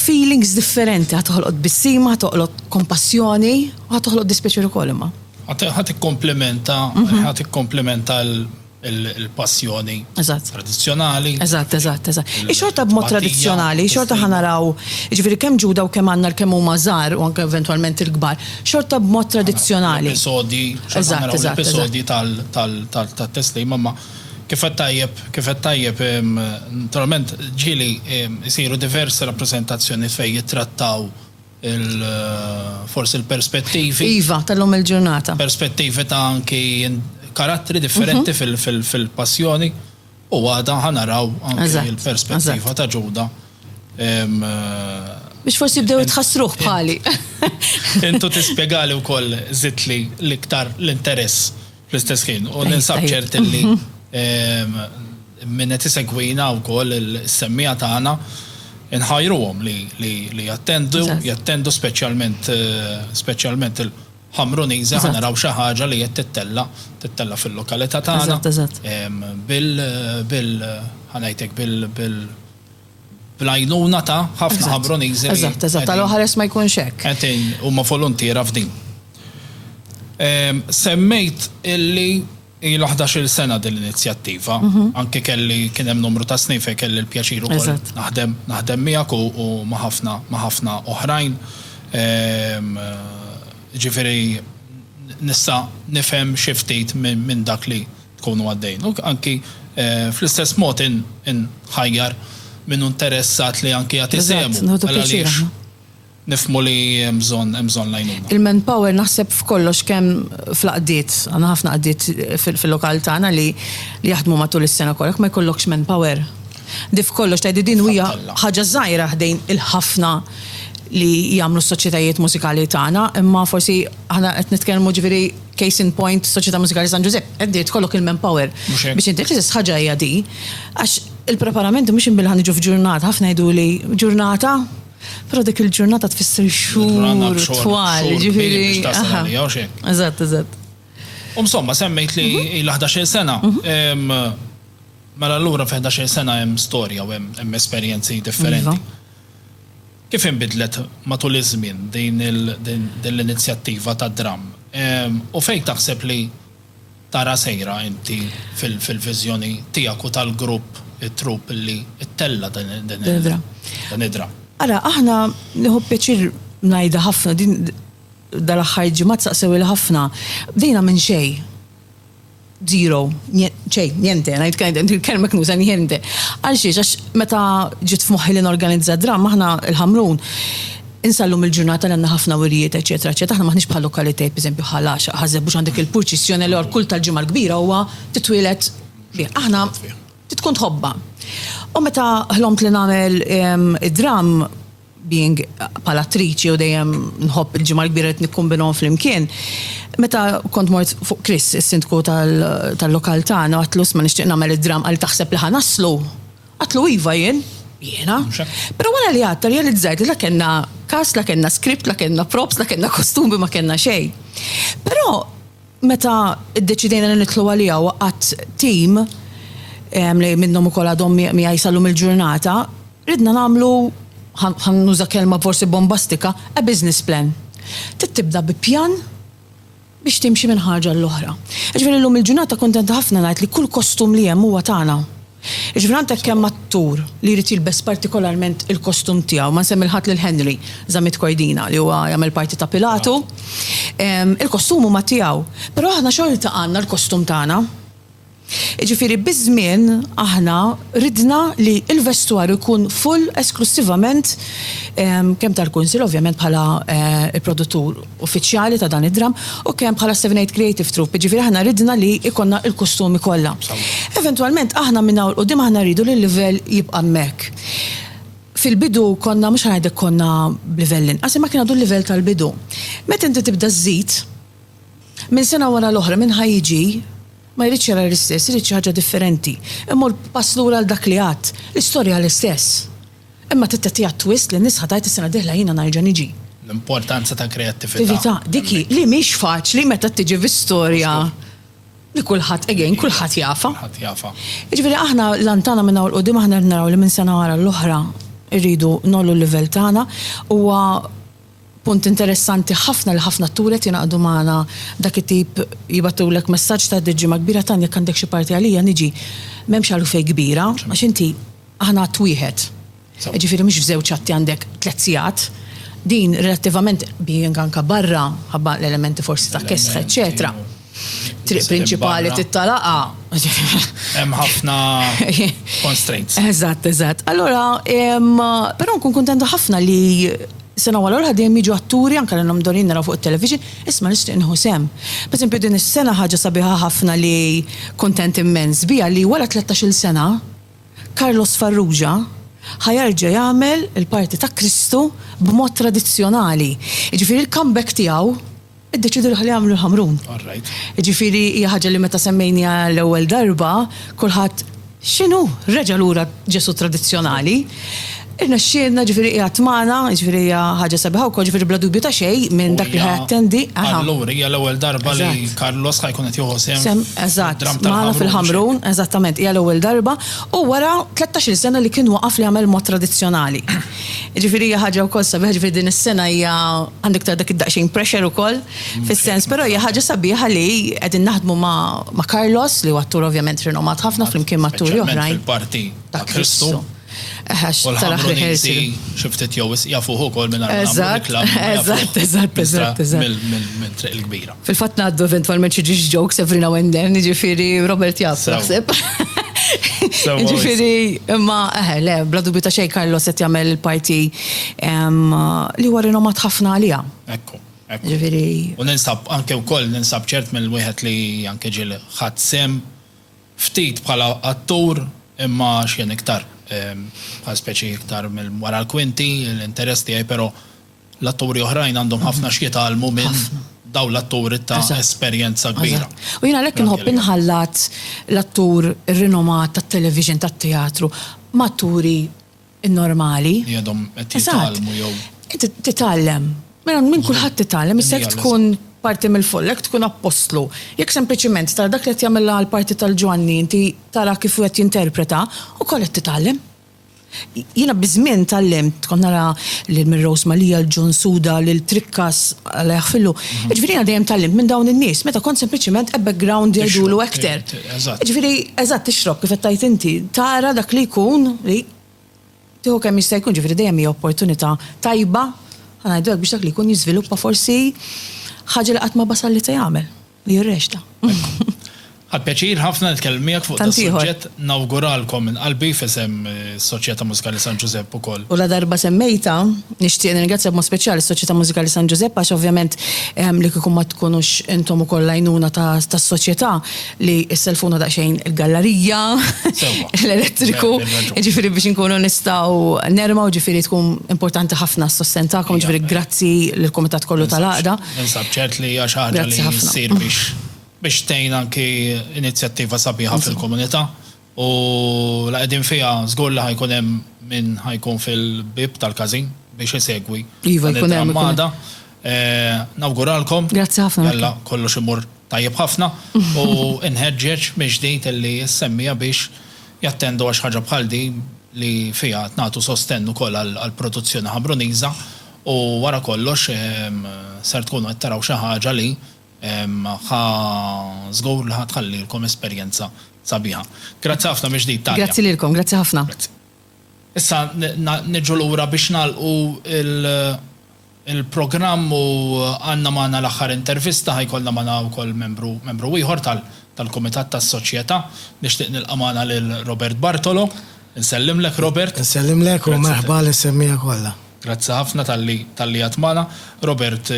feelings differenti, ħa toħloq tbissima, ħa toħloq kompassjoni, u ħa toħloq dispjaċir ukoll imma. Ħa tikkomplimenta, ħa tikkomplimenta l-passjoni tradizzjonali. Eżatt, eżatt, eżatt. Ix-xorta b'mod tradizzjonali, xorta ħa naraw, jiġifieri kemm Ġuda u kemm Anna l-kemm huma żgħar u anke eventwalment il-kbar, xorta b'mod tradizzjonali. Episodji, episodji tal-Testejn imma. Kif għedt tajjeb, kif għedt tajjeb, naturalment ġieli jsiru diversi rappreżentazzjonijiet fejn jittrattaw il, forsi l-perspettivi. Iva, ta' llum il-ġurnata. Perspettivi ta' anki karattri differenti fil-Passjoni u għada ħa naraw anki l-perspettiva ta' Ġuda. Biex forsi jibdew jitħassruh bħali. Intu tispjegali wkoll żidtli l-iktar l-interess. Fl-istess ħin, u ninsab ċert li minnet isegwina u koll il-semmija tagħna inħajruhom li jattendu, jattendu speċjalment speċjalment il-Ħamruniżi ħa naraw xi ħaġa li qed tittella' tittella' fil-lokalità tagħna bil bil ħa ngħidlek bil bil bl-għajnuna ta' ħafna Ħabruniżi li. Eżatt, eżatt, għal oħres ma jkunx hekk. Qegħdin, huma voluntiera f'din. Semmejt illi ilha ħdax-il sena din l-inizjattiva, anke kelli, kien hemm numru ta' snin fejn kelli l-pjaċir ukoll naħdem, naħdem miegħek u ma' ħafna, ma' ħafna oħrajn. Jiġifieri nista' nifhem xi ftit minn dak li. tkunu għaddejn. U anki fl-istess mod inħajjar min hu interessat li anki jagħti sehmu. Għal għaliex nifhmu li hemm bżonn hemm bżonn l-għajnuna. Il-manpower naħseb f'kollox kemm fl-għaqdiet, għandna ħafna għaqdiet fil-lokal tagħna li jaħdmu matul is-sena kollha, jekk ma jkollokx manpower. Di f'kollox tgħid li din hija ħaġa żgħira ħdejn il-ħafna li jagħmlu s-soċjetajiet mużikali tagħna, imma forsi aħna qed nitkellmu ġifieri, Case in point, Soċjetà Mużikali San Ġużepp, qed tgħid kollok il-manpower biex inti, l-istess ħaġa hija di. Għax il-preparamenti mhux imbielħa niġu f'ġurnata, ħafna jgħiduli ġurnata, però dik il-ġurnata tfisser xhur twal, jiġifieri. Eżatt, eżatt. U insomma, semmejt li mhm. ilha 11-il sena. Mhm. Mela allura fi 11-il sena hemm storja u hemm esperjenzi differenti. Iva. Kif inbidlet matul iż-żmien din l-inizjattiva tad-dramm? U fejn taħseb li tara sejra inti fil-viżjoni tiegħek u tal-grupp, it-trupp li ttella' dan id-dramm? Ara, aħna, nieħu pjaċir ngħidha ħafna, din dal-aħħar ġimgħat saqsewheli ħafna, bdejna minn xejn. Zero. Xejn, niente, ngħid kajden, il-kelma knuża niente. Għal xiex, għax meta ġiet f'moħħi li norganizza dramm, aħna l-Ħamrun, insallum il-ġurnata li għandna ħafna wirjiet, eċċetera, eċċetera, aħna maħniex bħal lokalitajiet, pereżempju, bħal Għaxaq, Ħaż-Żebbuġ għandek il-purċissjoni li kull tal-Ġimgħa l-Kbira huwa titwieled bih. Aħna tkun tħobbha. U meta ħlomt li nagħmel id-dramm, being bħala attriċi u dejjem nħobb il-Ġimgħa l-Kbira qed nikkumbinhom flimkien. Meta kont mort fuq Chris, is-Sindku tal-lokal tagħna, għedtlu isma' nixtieq nagħmel id-dramm, qalli taħseb li ħa naslu? Għedtlu iva jien, jiena. Però wara li għadt rrealizzajt li la kellna cast, la kellna script, la kellna props, la kellna kostumi, ma kellna xejn. Però meta ddeċidejna li nidħlu għaliha waqgħat team li minnhom ukoll għadhom miegħi sal-lum il-ġurnata, Ridna nagħmlu, ħa nuża kelma forsi bombastika, a business plan. Trid tibda bi pjan biex timxi minn ħaġa għal oħra. Jiġifieri llum il-ġurnata kuntenta ħafna ngħid li kull kostum li hemm huwa tagħna. Jiġifieri għandek kemm attur li jrid jilbes partikolarment il-kostum tiegħu, ma nsemmi l-ħadd lil Henry Zammit Kordina li huwa jagħmel parti ta' Pilatu. Il-kostum huma tiegħu, però aħna xorta għandna l-kostum tagħna. Jiġifieri biż-żmien aħna ridna li l-vestwar ikun full esklussivament kemm tal-Kunsill ovvjament bħala l-produttur uffiċjali ta' dan id-dramm u kemm bħala Seven Eight Creative Troupe, jiġifieri aħna ridna li jkollna l-kustumi kollha. Eventwalment aħna minn hawn 'l quddiem aħna rridu li l-livell jibqa' hemmhekk. Fil-bidu konna mhux ħa ngħidlek konna b'livell inqas imma kien għadu l-livell tal-bidu. Meta inti tibda żżid, Minn sena wara l-oħra, min ħa jiġi, ma jridx jara l-istess, irid xi ħaġa differenti. Immur pass lura għal dak li għadt, l-istorja l-istess. Imma trid tagħtiha twist li n-nies ħa tgħid is-sena d-dieħla jiena nerġa' niġi. L-importanza ta' kreattività. Tività, dik hi, li mhix faċli meta tiġi fi storja li kulħadd, again, kulħadd jafha. Kulħadd jafha. Jiġifieri aħna l-għan tagħna minn hawn 'l quddiem aħna rrid naraw li minn sena wara l-oħra rridu ngħollu l-livell tagħna. Huwa Punt interessanti ħafna li ħafna atturi qed jingħaqdu magħna dak it-tip jibgħatulek messaġġ ta' ħdiet ġimgħa kbira Tanja jekk għandek xi parti għalija niġi m'hemmx għalfejn kbira għax inti aħna att wieħed jiġifieri mhux f'żewġ atti għandek tliet sigħat din relattivament being anke barra mħabba l-elementi forsi ta' kesħa eċċetera. triq prinċipali tittalaqa. Hemm ħafna constraints. Eżatt, eżatt. Allora, però nkun kuntenta ħafna li sena wara l dejjem jiġu atturi anke l-inhom dorin naraw fuq it-television, isma' nixtieq nħu sem. Per esempio din is-sena ħaġa sabiħa ħafna li kuntent immens biha li wara 13-il sena Carlos Farrugia ħajarġa jagħmel il-parti ta' Kristu b'mod tradizzjonali. Jiġifieri l-comeback tiegħu Iddeċiedu li ħalli jagħmlu l-ħamrun. All right. Jiġifieri hija ħaġa li meta semmejniha l-ewwel darba, kulħadd, X'inhu? Reġa' lura Ġesù tradizzjonali. Irnexxielna, jiġifieri qiegħed magħna, jiġifieri hija ħaġa sabiħa wkoll, jiġifieri bla dubju ta' xejn minn dak li ħa jattendi, aha. Allura hija l-ewwel darba li Carlos ħa jkun qed jieħu sehem Sehem, eżatt, fid-dramm magħna tal-ħamrun. fil-ħamrun, eżattament, hija l-ewwel darba, u wara 13-il sena li kien waqaf li jagħmel mod tradizzjonali. Jiġifieri hija ħaġa wkoll sabiħa, jiġifieri din is-sena hija għandek tara dak id-daqsxejn pressure ukoll fis-sens, però hija ħaġa sabiħa li qegħdin naħdmu ma' Carlos li huwa attur ovvjament rinomat ħafna flimkien ma' atturi oħrajn. Speċjalment fil-parti ta' Kristu. Eħ għax taraħ li ħiel siru. U l-Ħamruniżi xi ftit jew wisq jafuh ukoll mingħajr ma nagħmlu reklam. Eżatt, eżatt, eżatt, eżatt. Minn Triq il-Kbira. Fil-fatt ngħaddu eventwalment xi ġiex jokes every now and then, jiġifieri Robert jaf naħseb. Jiġifieri imma eħe eh, le, bla dubju ta' xejn Carlos qed jagħmel il-parti li huwa rinomat ħafna għaliha. Ekku. Ġifieri. U ninsab anke wkoll ninsab ċert mill-wieħed li anke ġiel ħadd sem ftit bħala attur imma x'jien iktar bħal speċi iktar mill-wara l-kwinti, l-interess tiegħi però L-atturi oħrajn għandhom ħafna x'jitgħallmu minn dawn l-atturi ta' esperjenza kbira. Eżatt. U jien għalhekk inħobb inħallat l-attur rinomat tat-television, tat-teatru, ma' atturi normali. Li għadhom qed jitgħallmu jew. Eżatt. Titgħallem. Mela minn kulħadd titgħallem. Issa jekk tkun parti mill-folla, jekk tkun appostlu, jekk sempliċement tara dak li qed jagħmilha l-parti tal-Ġwanni inti tara kif hu qed jinterpreta, ukoll qed titgħallem. Jiena biż-żmien tgħallimt, kont nara lil Mary Rose Mallia, lil John Suda, lil Trikkas, Alla jaħfirlu, jiġifieri jiena dejjem tgħallimt minn dawn in-nies meta kont sempliċement a background jgħidulu actor. Jiġifieri, eżatt, tixrob kif qed tgħid inti, tara dak li jkun li tieħu kemm jista' jkun, jiġifieri dejjem hija opportunità tajba, ħa ngħidu hekk, biex dak li jkun jiżviluppa forsi ħaġa li qatt ma basal li se jagħmel. U jirrexta. Għad pjaċir ħafna nitkellem miegħek fuq dan is-suġġett. Nawguralkom minn qalbi f'isem is-Soċjetà Mużikali San Ġużepp ukoll. U ladarba semmejtha, nixtieq nirringrazzja b'mod speċjali s-Soċjetà Mużikali San Ġużepp għax ovvjament li kieku ma tkunux intom ukoll l-għajnuna tas-Soċjetà li ssellfuna daqsxejn il-gallarija, l-elettriku, jiġifieri biex inkunu nistgħu nermgħu, jiġifieri tkun importanti ħafna s-sostenn tagħkom, jiġifieri grazzi lill-kumitat kollu tal-għaqda. Ninsab ċert li hija xi ħaġa li ssir biex tgħin anki inizjattiva sabiħa fil-komunità u la qegħdin fiha żgur li ħajkun hemm min ħajkun fil-bieb tal-każin biex isegwi l-armada. Nawguralkom. Grazzi ħafna. Alla kollox imur tajjeb ħafna u nħeġġeġ mill-ġdid illi s-semmiegħa biex jattendu għax ħaġa bħal din li fiha qed nagħtu sostenn ukoll għall-produzzjoni Ħambruniża. U wara kollox, ser tkunu qed taraw xi ħaġa li ħa żgur li ħa tħallilkom esperjenza sabiħa. Grazzi ħafna mill-ġdid, Tania. Grazzi lilkom, grazzi ħafna. Grazzi. Issa niġu lura biex nagħlqu l-programm u għandna magħna l-aħħar intervista, ħa jkollna magħna wkoll membru, membru ieħor tal-Kumitat tas-Soċjetà. Nixtieq nilqa' magħna lil Robert Bartolo. Insellimlek, Robert. Insellimlek u merħba lis-semmiegħa kollha. Grazzi ħafna talli talli għadt magħna. Robert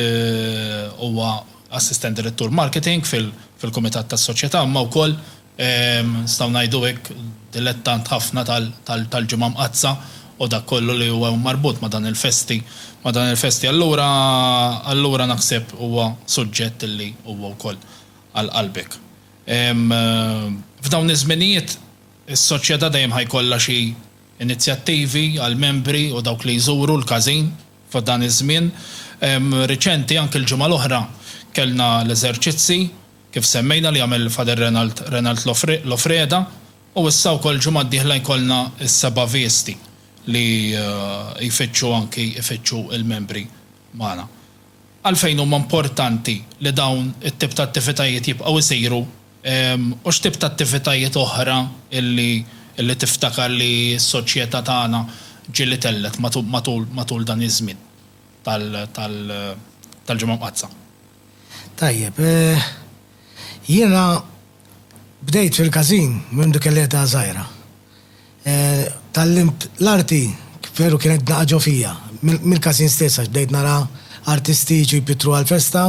huwa Assistent Direttur Marketing fil fil-Kumitat tas-Soċjetà imma wkoll nistgħu ngħidu hekk dilettant ħafna tal tal tal-Ġimgħa Mqaddsa u dak kollu li huwa marbut ma' dan il-festi ma' dan il-festi allura allura naħseb huwa suġġett li huwa wkoll għal qalbek. F'dawn iż-żminijiet is-Soċjetà dejjem ħa jkollha xi inizjattivi għall-membri u dawk li jżuru l-każin f'dan iż-żmien riċenti. Anki l-ġimgħa l-oħra kellna l-eżerċizzi, kif semmejna, li għamel Father Renald Renald Lofreda, u issa wkoll ġimgħa d-dieħla jkollna s-Seba' Vesti li jfittxu anki jfittxu l-membri magħna. Għalfejn huma importanti li dawn it-tip ta' attivitajiet jibqgħu jsiru U x'tip ta' attivitajiet oħra li tiftakar li s-soċjetà tagħna ġieli tellgħet matul dan iż-żmien tal-Ġimgħa Mqaddsa? Tajjeb, jiena bdejt fil-każin mindu kelli età żgħira. Tgħallimt l-arti, veru kienet naqa' ġo fija, mill-każin stess għax bdejt nara artisti jiġu jpittru għall-festa,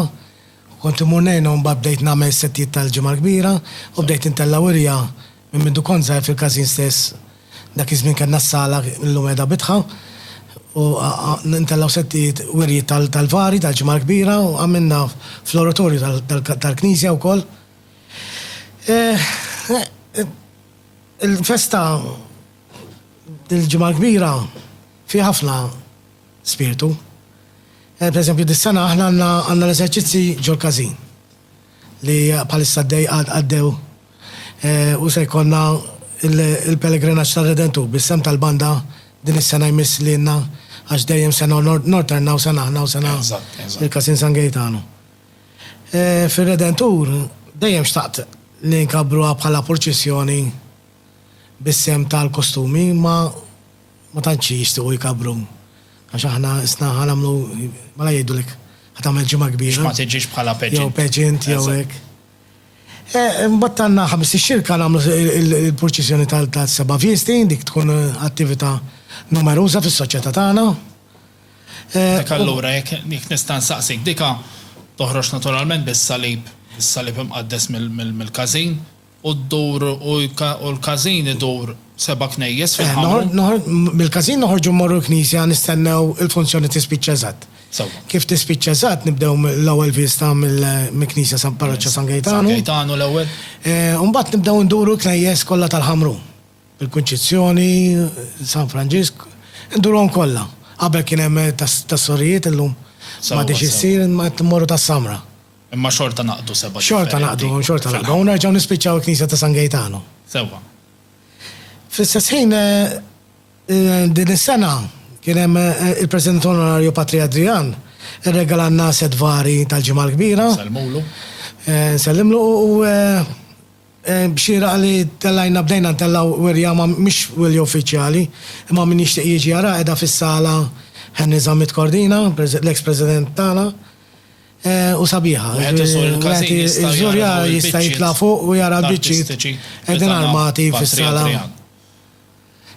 Kont immur ngħinha u mbagħad bdejt nagħmel settijiet tal-Ġimgħa l-Kbira u bdejt intella' wirja minn mindu kont żgħir fil-każin stess. Dak iż-żmien kellna s-sala illum qiegħda bitħa u ntellgħu settijiet wirji tal-Kalvari, tal-Ġimgħa l-Kbira u għamilna fl-oratorju tal-knisja wkoll. Il-festa tal-Ġimgħa l-Kbira fiha ħafna. spirtu. Per eżempju dis-sena aħna għandna għandna l-eżerċizzi ġol-każin li bħalissa għaddej għaddew u se jkollna il-pelegrinaġġ tar-Redentur bis-sehem tal-banda din is-sena jmiss lilna għax dejjem se norternaw sena aħna u sena il-Każin San Gejtanu. Fir-Redentur dejjem xtaqt li nkabbruha bħala purċissjoni bis-sehem tal-kostumi imma ma tantx jixtiequ jkabbru għax aħna qisna ħa nagħmlu mela jgħidulek ħa tagħmel ġimgħa kbira. Biex ma tiġix bħala pageant. Jew pageant jew hekk. Imbagħad għandna ħames ix-xirka nagħmlu l-purċissjoni tas-seba' festi, dik tkun attività numeruża fis-soċjetà tagħna. Dik allura jekk nista' nsaqsik, dika toħroġ naturalment bis-salib, is-salib imqaddes mill-każin. u ddur u u l-każin idur seba' knejjes fil-ħamru. Mill-każin noħorġu mmorru l-knisja nistennew il-funzjoni tispiċċa eżatt. Sewwa. Kif tispiċċa eżatt nibdew mill-ewwel vista mill-knisja San Parroċċa San Gejtanu. San Gejtanu l-ewwel. U mbagħad nibdew nduru l-knejjes kollha tal-ħamru. Il-Kunċizzjoni, San Franġisk, indurhom kollha. Qabel kien hemm tas-sorijiet illum m'għadhiex issir imma qed immorru tas-samra. Imma xorta naqdu seba' differenti. Xorta naqdu, xorta naqdu. U nerġgħu nispiċċaw il-Knisja ta' San Gejtanu. Sewwa. Fl-istess ħin, din is-sena kien hemm il-President Onorarju Patri Adrian irregalanna sett vari tal-Ġimgħa l-Kbira. Nsellmulu. Nsellimlu u xieraq li tellgħinna bdejna ntellgħu wirja ma mhix wirja uffiċjali imma min jixtieq jiġi jaraha qiegħda fis-sala Henry Zammit Cordina, l-eks President tagħna. u sabiħa. Iż-żurja jista' jitla' fuq u jara l-biċċiet qegħdin armati fis-sala.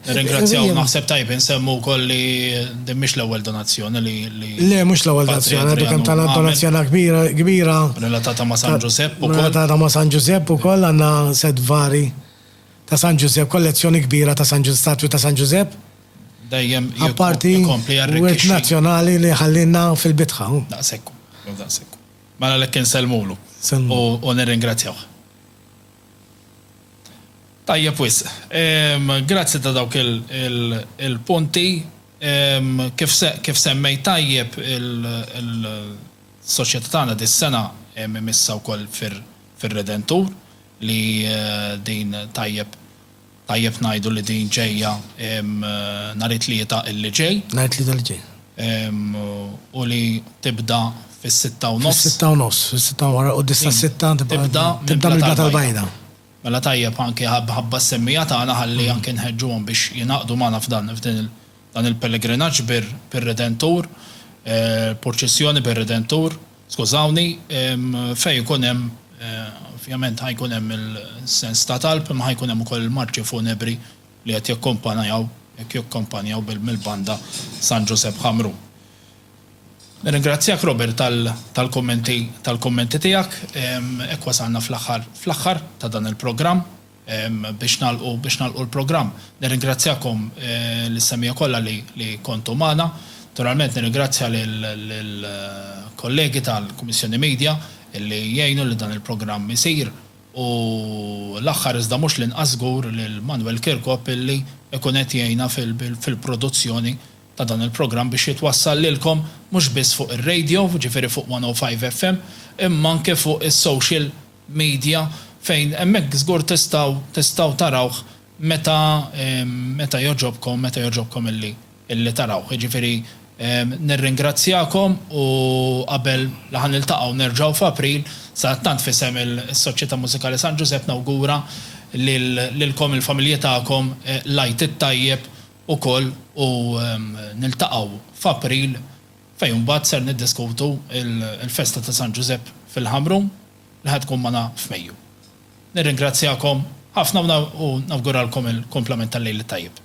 Nirringrazzjaw, naħseb tajjeb insemmu wkoll li din mhix l-ewwel donazzjoni li. Le, mhux l-ewwel donazzjoni, għadu kemm tagħna donazzjoni kbira. Relatata ma' San Ġużepp ukoll. Relatata ma' San Ġużepp ukoll għandna set vari. ta' San Ġużepp, kollezzjoni kbira ta' San Ġużepp, statwi ta' San Ġużepp, apparti wirt nazzjonali li ħallielna fil-bitħa. Daqshekk hu, jew daqshekk hu. Mela għalhekk insellmulu u nirringrazzjawh. Tajjeb wisq. Grazzi ta' dawk il-punti. Kif semmejt tajjeb, is-soċjetà tagħna dis-sena imissha wkoll fir-Redentur, li din tajjeb tajjeb ngħidu li din ġejja nhar it-Tlieta li ġej. Nhar it-Tlieta li ġej. U li tibda fis-sitta u nofs. Fis-sitta u nofs, fis-sitta wara l-quddies tas-sitta tibda tibda mill-Blat tal-Bajda. Mela tajjeb anke ħabba s-semmija tagħna ħalli anke nħeġġuhom biex jingħaqdu magħna f'dan f'dan il-pellegrinaġġ bir-Redentur, purċissjoni bir-Redentur. Skużawni, fejn ikun hemm, ovvjament ħa jkun hemm il-sens ta' talb imma ħa jkun hemm ukoll il-marċi funebri li qed jakkompanajaw, qed jakkompanjaw mill-Banda San Ġużepp Ħamrun. Nirringrazzjak Robert tal-kummenti tal-kummenti tiegħek. Hekk wasalna fl-aħħar fl-aħħar ta' dan il-programm. biex nagħlqu biex nagħlqu l-programm. Nirringrazzjakom lis-semmiegħa kollha li li kontu magħna. Naturalment nirringrazzja lill-kollegi tal-Kummissjoni Media illi jgħinu li dan il-programm isir u l-aħħar iżda mhux l-inqas żgur lil Manuel Kirkop illi jkun qed jgħinna fil-produzzjoni ta' dan il-programm biex jitwassal lilkom mhux biss fuq ir-radio, jiġifieri fuq 105FM, imma anke fuq is-social media fejn hemmhekk żgur tistgħu tistgħu tarawh meta meta jogħġobkom meta jogħġobkom illi illi tarawh. Jiġifieri nirringrazzjakom u qabel la ħa niltaqgħu nerġgħu f'April, sadattant f'isem is-Soċjetà Mużikali San Ġużepp nawgura lil lilkom il-familji tagħkom l-Għid it-Tajjeb ukoll u niltaqgħu f'April fejn imbagħad ser niddiskutu l-festa ta' San Ġużepp fil-Ħamrun li ħa tkun magħna f'Mejju. Nirringrazzjakom ħafna u nawguralkom il-kumplament tal-Lejl it-Tajjeb.